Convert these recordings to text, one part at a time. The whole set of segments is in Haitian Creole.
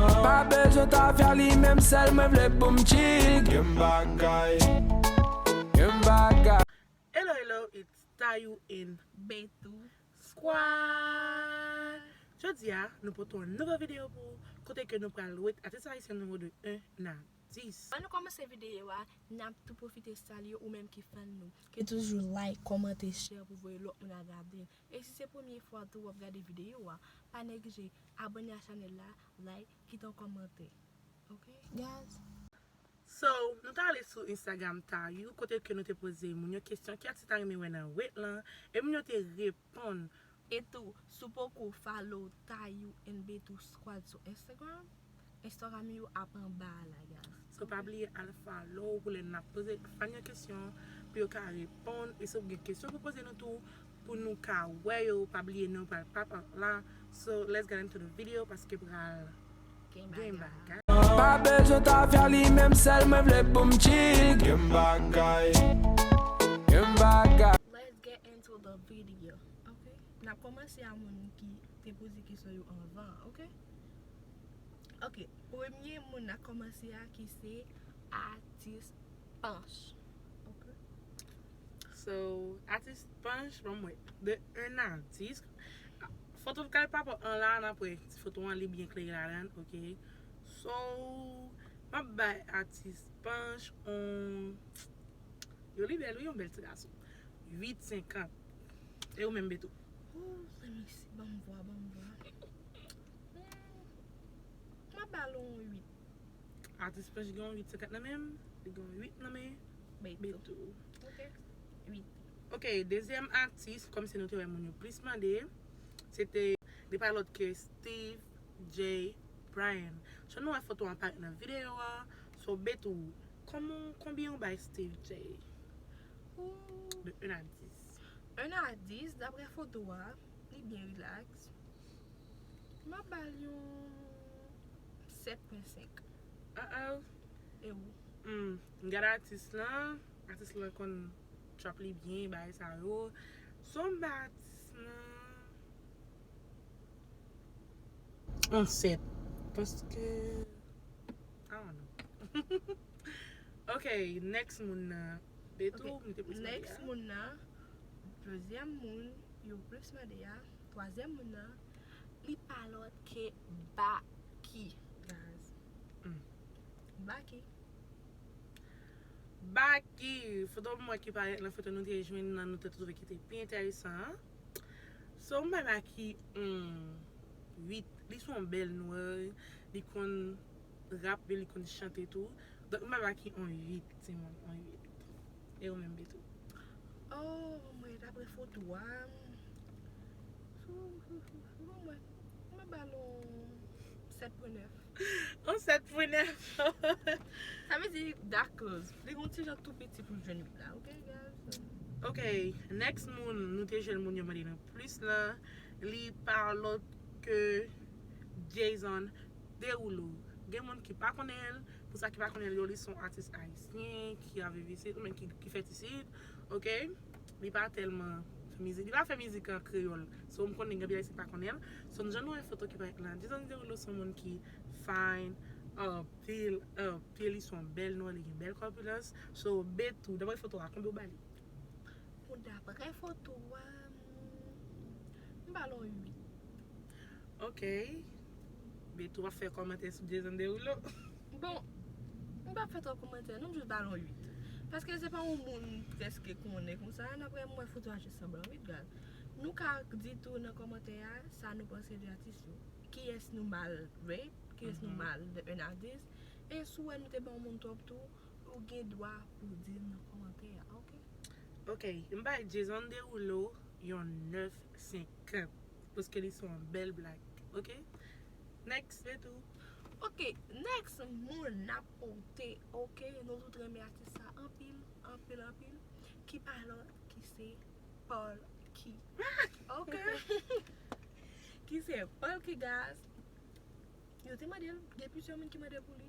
Pa bezwen tafya li menm sèl mwen vle poum chill Gen bagay Gen bagay. Hello hello it's Tayou and Bethou squad Jodi a nou pote yon nouvo video pou ou kote ke nou pral rate atis ayisyen nou yo de 1 a 10. An nou komanse video a nap tou pwofite salye ou menm ki fan nou ke toujou like, kòmante, share pou voye lòt moun al gadel. E si se premye fwa tou wap gade video a, pa neglije abone a chanel la, like, kite yon komante ok guys. So nou ta ale sou Instagram Tayou kote ke nou te poze moun yo kesyon ki atis ta renmen wè nan wet lan e moun yo te reponn. E tou si w poko follow Tayou and Betty squad sou Instagram Instagram yo ap anba a la guys. So pa bliye al follow pou lè nap poze fan yo kesyon pou yo ka reponn e si ou gen kesyon pou poze nou tou pou nou ka wè yo pa bliye nou pral pop up la so let's get into the video paske pral gen bagay. Pa bezwen tafya li menm sèl mwen vle poum chill gen bagay gen bagay. Let's get into the video ok nap komanse a moun ki te poze kesyon yo anvan ok. Ok premye moun na komanse a ki se atis panch. So atis panch banm wè de un atis foto vokal papa an la nap wè si foto an li byen klere ladan ok so map bay atis panch on yo li bèl wi yon bèl ti gason 8 50 e ou menm betou. Ooh zanmi si banm vwa banm vwa. Humm map bal on 8. Atis Pèch gen on 8 50 nan menl li gen on 8 nan men Bertho ok 8. Ok dezyèm atis kòmsi nou te wè moun yo plis mande se te li pa lòt ke Steeve Jay Bryan so nou wè foto an parèt nan video an so Bertho kòman w konbyen ou bay Steeve Jay de 1 a 10. 1 a 10 daprè foto a. Li byen relax. Map bal yon 7.5. Uh oh. E ou? Humm m gad atis lan, atis lan konn trap li byen bagay sa yo. Son m bay atis lan yon 7 paske I don't know. Ok next moun nan. Ok, next moun nan, dezyèm moun yo plis mande a, twazyèm moun nan, li pa lòt ke Baky guys. Baky. Baky, foto mwen ki parèt nan foto nou te jwenn nan nou te twouve ki te pi entèresan an. So m bay Baky yon 8, li son bèl nwè, li konn rap yo li konn chante tou donk mpa ba ki on 8 timoun on 8 e ou menm Betou. Ohh mwen dapre foto a bon mwen mwen bal on 7 pwen 9. On 7 pwen 9 sa vle di dak close li gon ti jan tou piti pou jwenn 8 la ok guys. Ok next moun nou te jwenn moun yo mande nou plis lan li pa lòt ke Jayson. Derulo gen moun ki pa konnenl pou sa ki pa konnenl yo li son atis ayisyen ki a viv isit ou men ki fèt isit ok li pa tèlman fè mizik li pa fè mizik an kreyòl so m konnen gen anpil ayisyen ki pa konnenl so m jan nou wè foto ki parèt la dizanmi Derulo son moun ki fine anpil anpil li son bèl nwa li gen bèl kòpilans so Betty daprè foto a konbyen ou bali? Bon daprè foto a m bal on 8. Ok Betty wap fè kòmantè sou Jason Derulo? Bon, m pap fè twòp kòmantè non, m jis ba l yon 8. Paske se pa yon moun m prèske konnen konsa, ann aprè m wè foto a jis sanblan wi bgad. Nou ka di tou nan kòmantè a sa nou panse de atis yo. Kiyès nou mal rate, kiyès nou mal de 1 a 10. E si w wè nou te ban yon moun twòp tou, ou gen dwa pou w di l nan kòmantè a ok. Ok, m bay Jason Derulo yon 9 50. Paske li son bèl blag ok next se tou. Ok next moun nap pote ok nou tout renmen atis sa anpil anpil anpil ki pa lòt ki se Polky ok ki se Polky guys yo te mandel gen plizyè moun ki mande pou li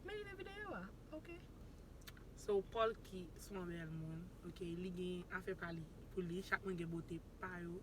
men li nan videyo a ok so Polky son bèl moun ok li gen afè pa li pou li chak moun gen bote pa yo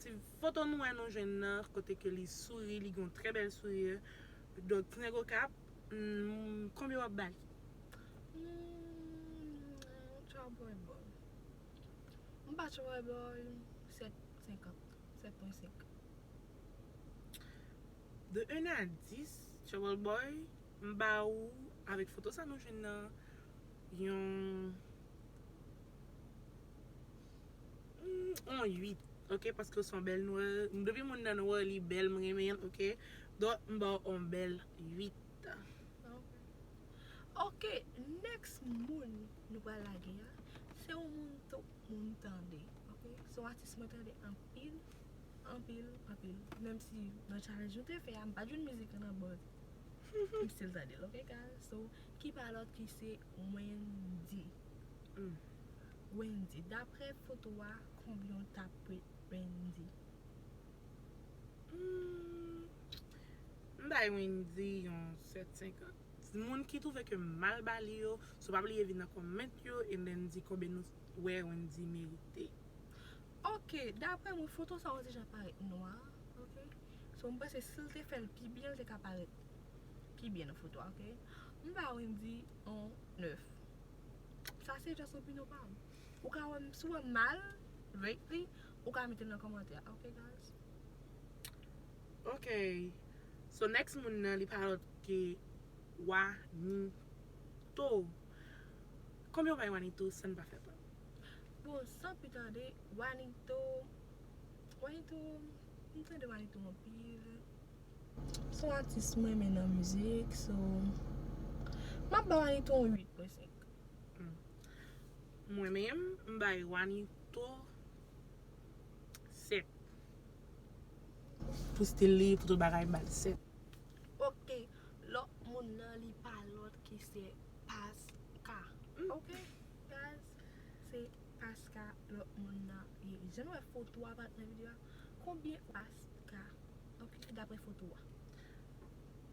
Ti foto nou wè nou jwenn nan kote ke li souri li gen yon trè bèl sourire donk ti nèg okap humm konbyen wap ba li? Humm Chawboy boy m ba chawboy boy 7 50 7.5. De 1 a 10 chawboy boy m ba ou avèk foto sa nou jwenn nan yon. Humm on 8 ok paske w son bèl noir depi moun nan noir li bèl m renmen l ok donc m ba w on bèl 8 ok next moun nou pral lage a se yon moun tout moun tande ok se yon atis mwen tande anpil anpil anpil menm si nan challenge nou te fè a m pa jwenn mizik lan nan but m still tande l ok guys so ki pa lòt ki se Wendy. Ooh Wendy daprè foto a konbyen w ta prêt Wendy Humm m bay Wendy yon 7 50 moun ki trouve ke m mal ba li yo so pa bliye vin nan comment yo and then di konbyen nou wè Wendy merite. Ok daprè mwen foto sa ou deja parèt nwa ok so m panse si l te fè l pi byen l te ka parèt pi byen nan foto a ok m ba Wendy. On neuf. Sa se just opinyon pa m. Ou ka wè m, si w wè m mal rate li, ou ka mete l nan kòmantè a ok guys. Ok So next moun nan li pa lòt ke Wanito. Konbyen ou bay Wanito san n pa fè prank? Bon san pi tande Wanito Wanito m tande Wanito anpil. Son atis m renmen nan mizik so map ba wanito yon 8 bò 5. Mwen menm m bay wanito 7. Pou stil li pou tout bagay m bal 7. Ok lòt moun nan li pa lòt ki se paska ok guys se paska lòt moun nan ye jan nou wè foto a pat nan video a konbyen paska Ok dapre foto a.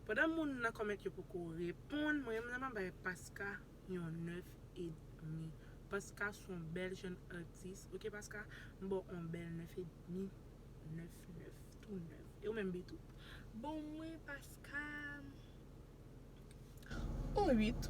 Pandan moun nan comment yo poko reponn mwen menm map bay paska yon 9 edmi paska son bèl jèn atis ok paska m baw on bèl 9 edmi 9 9 tou 9 e ou menm betou. Bon mwen paska on 8.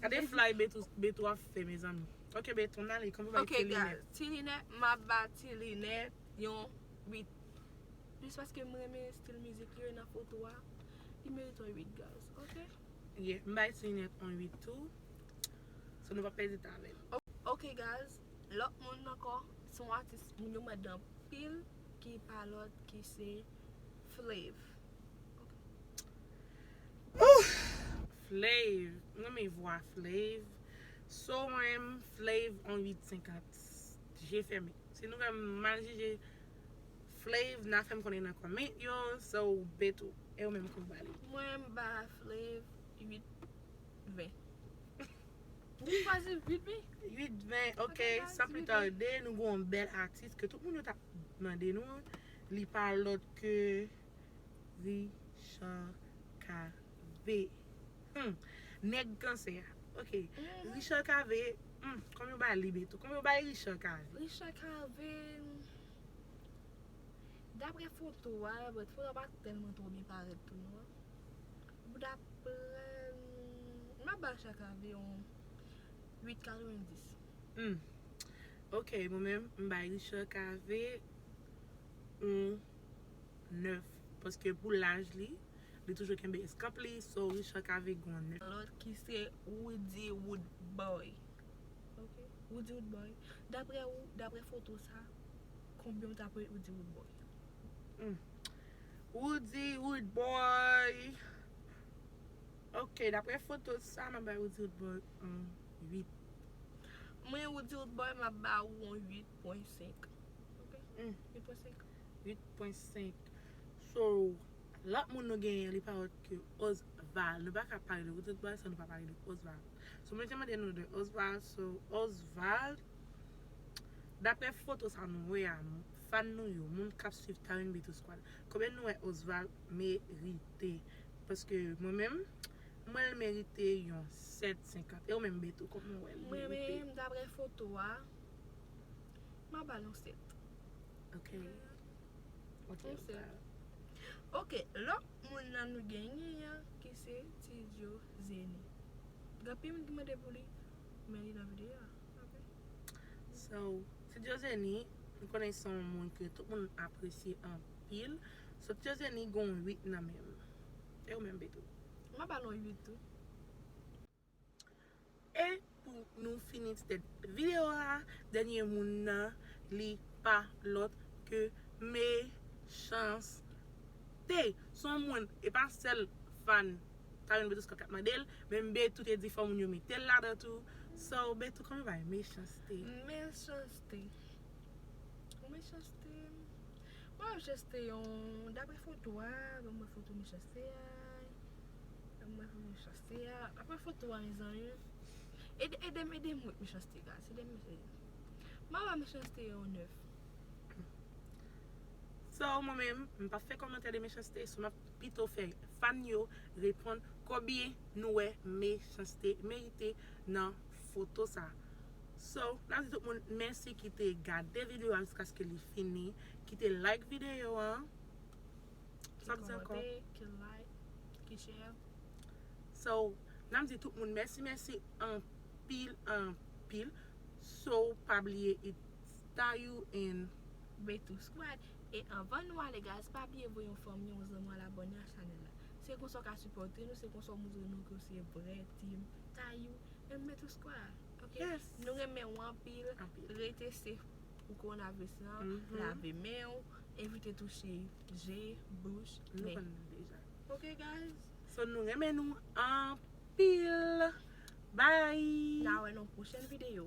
Gade flay betou ap fè mezanmi. Ok betou nan li kòman pou bay ti linèt. Ok guys ti linèt map ba ti linèt yon 8. Jis paske m renmen stil mizik li yo nan foto a. Li merite yon 8 guys ok. Yeah m bay ti linèt yon 8 tou. So nou pa pèdi tan avèl. Ok guys lòt moun ankò se yon atis moun yo mande anpil ki pa lòt ki se Flav. Flav m renmen vwa flav. So renmn flav on 8 50 je fèmen si nou fèm mal jije flav na fèm konnen nan comment yo so betou e ou menm kou bali. Mwen m ba flav 8 20. Ou pa di 8 20? 8 20 ok san pli tarde nou gen yon bèl atis ke tout moun yo tap mande nou an li pa lòt ke. Richard Cavé Humm nèg kansè a ok Richard Cavé humm kòm yo bay Libre tou kòm yo bay Richard Cavé. Richard Cavé Daprè foto a but foto a pa tèlman twò byen parèt pou nou an But daprè humm map bay Richard Cavé yon 8 90 Humm ok mwen menm m bay Richard Cavé yon. 9 paske pou laj li li toujou kenbe eskanp li so Richard ka vin gon 9. Lòt ki se Roody Roodboy ok Roody Roodboy daprè ou daprè foto sa konbyen ou ta pran Roody Roodboy. Humm Roody Roodboy ok daprè foto sa map bay Roody Roodboy on 8. Mwen Roody Roodboy map ba ou on 8.5 ok 8.5. 8.5 So lòt moun nou genyen li pa lòt ke Osval Nou pa ka pale de Ruth Osval san nou pa pale de Osval So mwen te mande nou de Osval So Osval Daprè foto sa nou wè a Fan nou yo Moun kap swiv Tarengbito Squad Konbyen nou wè Osval merite Paske mwen menm Mwen l merite yon 7 50 E ou menm Beto kòman ou wè l Mwen menm daprè foto a Map ba l yon 7. Ok Ok Ou se Ok lòt moun nan nou genyen yan ki se Tidjo Zeni Gen anpil moun ki mande pou li Men li nan videyo a Ok So Tidjo Zeni m konnen se yon moun ke tout moun apresye anpil So Tidjo Zeni gen yon 8 nan menm E ou menm Beto? Mwen ba l yon 8 tou. E pou nou fini ti tèt video a, dènye moun nan li pa lòt ke Mechans-T. Son moun, e pa sèl fan Carine Betus Scott kap mandel, menm Betou te di fò moun yo metel ladan tou. So Betou kòman bagay Mechans-T? Mechans-T Bon Mechans-T Bon Mechans-T yon dapre foto a, banm wè foto Mechans-T a, banm wè foto Mechans-T. Se a apa foto a mezanmi. Ede edem edem wè mechanste guys edem mesye ma ba mechanste yon 9. So mwen menm m pap fè kòmantè de mechanste so map pito fè fan yo reponn konbyen nou wè mechanste merite nan foto sa so nap di tout moun mèsi kite gade video a jiskaske li fini kite like video an. Sa m di ankò? Ki kòmante, ki like, ki share. So, n ap di tout moun mèsi mèsi anpil anpil. So, pa bliye it Tayou and. Bethou Squad. E anvan nou ale guys, pa bliye voye yon fanmi, yon zanmi al abòne a chanèl la. Se konsa w ka sipòte nou, se konsa w moutre nou ke w se vrè team Tayou and Bethou Squad. Ok? Nou renmen w anpil. Rete safe. pou kowonaviris lan, lave men ou, evite touche je, bouch, nen. Ok guys. So nou renmen nou anpil. Bye. Na wè nan pwochèn videyo.